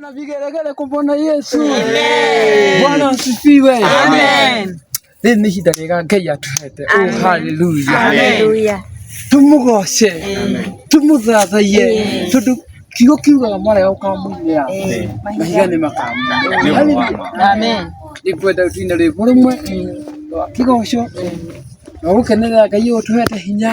Na vigelegele kwa Bwana Yesu. Amen. Bwana asifiwe. Amen. Rĩrĩ nĩ ihinda rĩega Ngai atuhete. Oh, hallelujah. Hallelujah. Tũmũgoce. Tũmũthathaiye. Tondũ kiugo kiugaga marĩa ũkamũnyia. Mahiga nĩ makamunyia. Hallelujah. Amen. Nĩngwenda ũtine rwĩmbo rũmwe rwa kĩgoco na gũkenerera Ngai ũyũ ũtũhete hinya.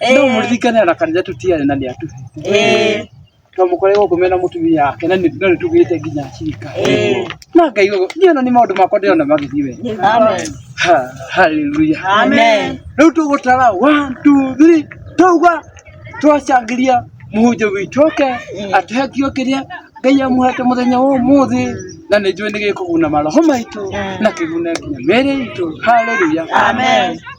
Eh. no mũririkane ona kanitha tũtiarĩ na nĩ atuhe Eh. to mũkore gũkũ mena mũtumia wake na nĩ- no nĩ tugĩte nginya cirika Eh. na ngai ũguo niĩ ona nĩ maũndũ makwa ndĩrona magĩthiĩ wega Amen. Ha- haleluya Amen. rĩu tũgũtara one, two, three, twauga twacangĩria mũhunjia witũ oke atũhe kĩo kĩrĩa ngai amuhete mũthenya wa ũmũthĩ na nĩ njũĩ nĩ gĩkũguna maroho maitũ na kĩgune nginya mĩĩrĩ itũ haleluya Amen.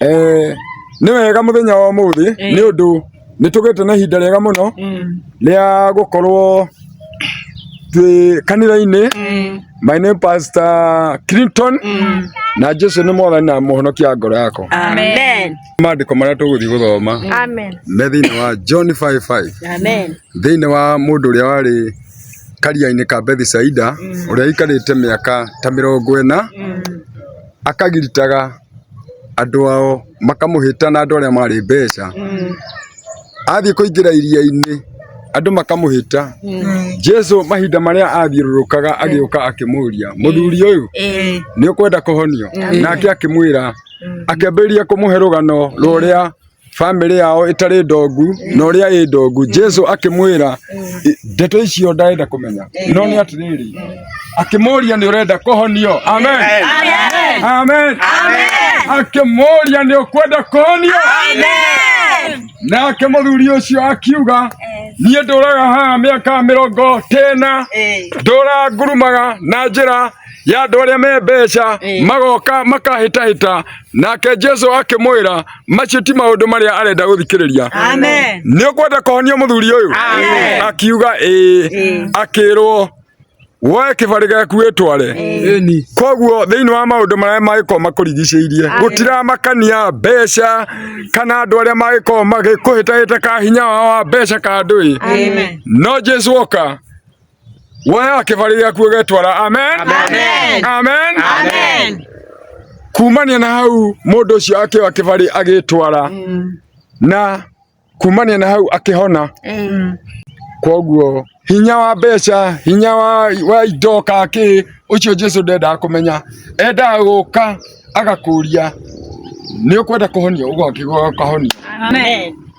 Eh, nĩ wega mũthenya wa ũmũthĩ nĩ ũndũ nĩ tũgĩte na ihinda rĩega mũno rĩa gũkorwo twĩ kanitha-inĩ my name pastor clinton na jesu nĩ mwathani na mũhonokia wa ngoro yakwa Amen. maandĩko marĩa tũgũthiĩ gũthoma Amen. me thĩinĩ wa john 55 Amen. thĩinĩ wa mũndũ ũrĩa warĩ karia-inĩ ka bethisaida ũrĩa aikarĩte mĩaka ta mĩrongo ĩna akagiritaga andũ ao makamũhĩta na andũ arĩa marĩ mbeca athiĩ kũingĩra iria-inĩ andũ makamũhĩta jesu mahinda marĩa athiũrũrũkaga agĩũka akĩmũria mũthuri ũyũ Eh. nĩ ũkwenda kũhonio nake akĩmwĩra akĩambĩrĩria kũmũhe rũgano rwa ũrĩa bamĩrĩ yao ĩtarĩ ndongu na ũrĩa ĩ ndongu jesu akĩmwĩra "I- ndeto icio ndarenda kũmenya no nĩ atĩrĩrĩ akĩmũria nĩ ũrenda kũhonio amen amen akĩmũria nĩ ũkwenda kũhonio nake mũthuri ũcio akiuga niĩ ndũraga haha mĩaka mĩrongo tena ndũrangurumaga na njĩra ya andũ arĩa me mbeca Eh. magoka makahĩtahĩta nake jesu akĩmwĩra macio ti maũndũ marĩa arenda gũthikĩrĩria Amen. nĩ ũkwenda kũhonia mũthuri ũyũ Amen. akiuga ĩĩ Ĩĩ. akĩrwo woe kĩbarĩ gĩaku wĩtware Ĩni. koguo thĩinĩ wa maũndũ marĩa magĩkorwo makũrigicĩirie gũtiramakania mbeca kana andũ arĩa magĩkorwo magĩkũhĩtahĩta ka hinya wao wa mbeca ka ndũĩ Amen. no jesu oka woya kĩbarĩ gĩaku ũgetwara amen Amen. amen Amen. kumania na hau mũndũ ũcio akĩoya kĩbarĩ agĩtwara na kumania na hau akĩhona koguo hinya wa mbeca hinya wa, wa indo kakĩ ũcio jesu ndendaga kũmenya endaga gũka agakũria nĩ ũkwenda kũhonio ũgokĩgokahonia Amen.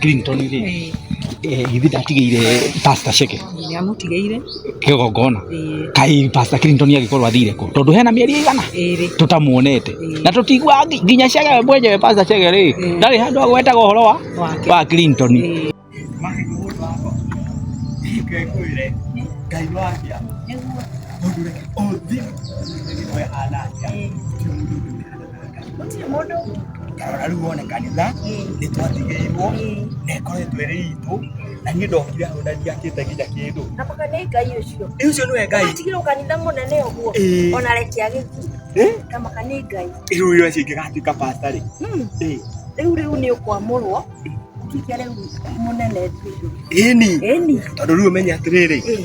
Clinton rĩ Ĩĩ, eh, githĩ ndatigĩire pastor Sheke nĩamũtigeire kĩgongona Ĩĩ, kai pastor Clinton agĩkorwo athire kũ tondũ hena mĩeri ĩigana ĩrĩ tũtamuonete Ĩĩ. na tũtigua nginya Sheke we mwenyewe pastor Sheke rĩ Ĩĩ. ndarĩ handũ agwetaga ũhoro wa wake wa Clinton Ĩĩ. Nĩguo. Ĩĩ. gũtirĩ mũndũ ndarora rĩu wone kanitha nĩ twatigĩirwo na ĩkoretwo ĩrĩ itũ na niĩ ndokire hau na ndiakĩte nginya kĩndũ Nakoka nĩ ngai ũcio. Ĩ ũcio nĩwe ngai Atigirwo kanitha mũnene ũguo. Ĩĩ. Ona reke agĩthiĩ. Eh? Kamaka nĩ ngai. rĩu ũyũ acio ingĩgatuĩka pasta rĩ Hmm. Eh, Rĩu rĩu nĩ ũkwamũrwo. Kike rĩu mũnene biũ. ĩni Ĩni. tondũ rĩu ũmenye atĩrĩrĩ Eh.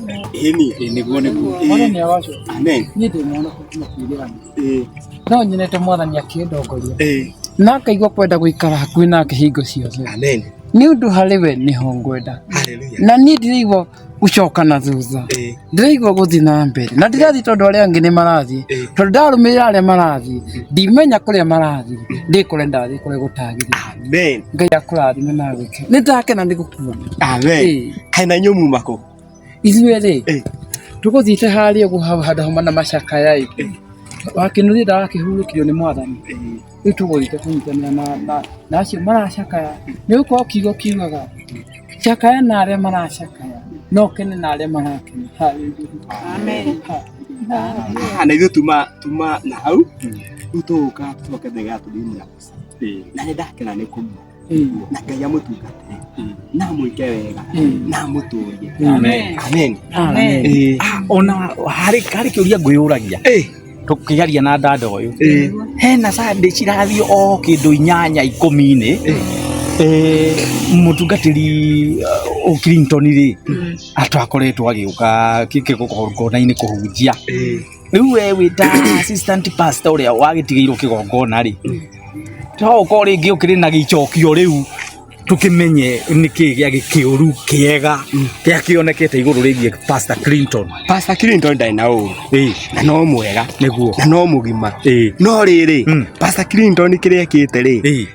Ĩni. Ĩĩ nĩguo nĩguo. Mwathani aroco. Amen. Niĩ ndĩ mwana kuma kĩrĩanĩ. Ĩĩ. No nyonete mwathani akĩndongoria. Ĩĩ. Na ngaigua kwenda gũikara hakuhĩ nake hingo ciothe. Amen. Nĩ ũndũ harĩ we nĩho ngwenda. Hallelujah. Na niĩ ndiraigua gũcoka na thutha. Ĩĩ. Ndiraigua gũthiĩ na mbere. Na ndirathiĩ tondũ arĩa angĩ nĩ marathiĩ. Ĩĩ. Tondũ ndarũmĩrĩra arĩa marathiĩ. Ndimenya kũrĩa marathiĩ. Ndĩ kũrĩa ndathiĩ kũrĩa gũtagĩrĩire. Amen. Ngai akũrathime na agwĩkĩre. Nĩ ndakena nĩ gũkuona. Amen. Ĩĩ. Kaĩ na inyuĩ muma kũ? ithuĩ rĩ Eh. tũgũthiĩte harĩa ũguo hau handũ homa na macakaya ĩ wakĩnuria ndawa akĩhurũkirio nĩ mwathani rĩu tũgũthiĩte kũnyitanĩra na- na- na acio maracakaya nĩ gũkorwo kiugo kiugaga cakaya na arĩa maracakaya no kene na arĩa marakena Hallelujah. Ah, na ithuĩ tuma tuma na hau rĩu tũgũka tũcoke thega tũthiĩ na na nĩ ndakena nĩ kũmwe na ngai amũtungatĩre na amwĩke wega na amũtũrie Amen. amen Amen. Eh, Ah, ona harĩ harĩ kĩũria ngwĩyũragia tũkĩaria na dada ũyũ eh, hena sande cirathiĩ o kĩndũ inyanya ikũmi-inĩ Eh, mũtungatĩri uh, o Clinton rĩ atwakoretwo agĩũka kona-inĩ kũhunjia eh, rĩu we wĩ ta assistant pastor ũrĩa wagĩtigĩirwo kĩgongona rĩ to ũkorwo rĩngĩ ũkĩrĩ na gĩcokio rĩu tũkĩmenye nĩkĩ gĩa gĩkĩũru kĩega kĩa kĩonekete igũrũ rĩgiĩ pastor clinton Pastor Clinton ndarĩ na ũũru Ĩĩ, na no mwega nĩguo na no mũgima Ĩĩ. no rĩrĩ Mm. Pastor Clinton kĩrĩa ekĩte rĩ Ĩĩ.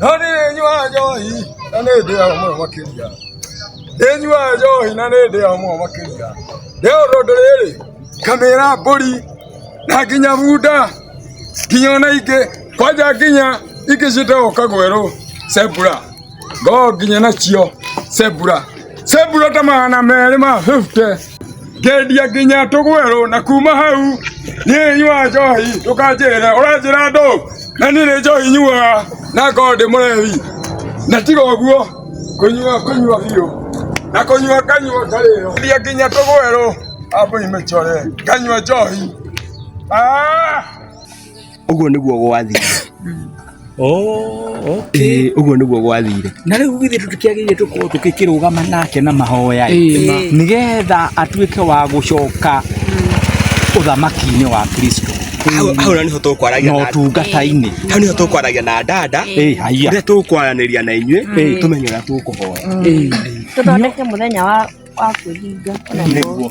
no nĩ nyuaga njohi na nĩ ndĩaga mũno makĩria nĩ nyuaga njohi na nĩ ndĩaga mũno makĩria rĩ ũndũ ũndũ rĩrĩ kamĩra mbũri na nginya bunda nginya ona ingĩ kwanja nginya ingĩ ciĩtagwo kagwerũ cebura ngoo nginya nacio cebura cebura ta magana merĩ ma 50 ngendia nginya tũgwerũ na kuma hau niĩ nyua njohi ndũkanjĩre ũranjĩra ndũ na niĩ nĩ njohi nyuaga na ngorwo ndĩ mũrehi na tiga ũguo kũnyua kũnyua biũ na kũnyua nganyua ngarĩo ngendia nginya tũgwerũ ambũi mĩcore nganyua njohi Ah! Ũguo nĩguo gwathire. Oh, okay. Ũguo nĩguo gwathire. Na rĩu githĩ tũtikĩagĩrĩire tũkorwo tũkĩkĩrũgama nake na mahoya nĩgetha atuĩke wa gũcoka ũthamaki-inĩ wa Kristo hau na niho tukwaragia na tungata-inĩ hau niho tukwaragia na dada rä tukwaranĩria na inyuĩ tumenye ũrĩa tũkũhoya tũthondeke mũthenya wa kwĩhinga nĩguo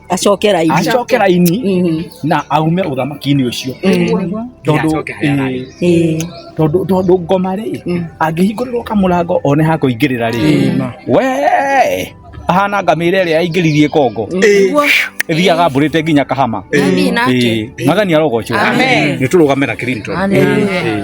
acoke raini acoke raini Mhm. na aume uthamaki-inĩ ũcio Nĩguo. tondũ Acoke haya raini. eh, Eh, tondũ tondũ ngoma rĩ Mm. angĩhingũrĩrwo kamũrango one ha kũingĩrĩra rĩ we ahana ngamĩra ĩrĩa yaingĩririe kongo nĩguo. ĩthiaga mbũrĩte nginya kahama Amina. Eh, magani arogocwo Amen. nĩ tũrũgamĩra Clinton Hallelujah. Eh,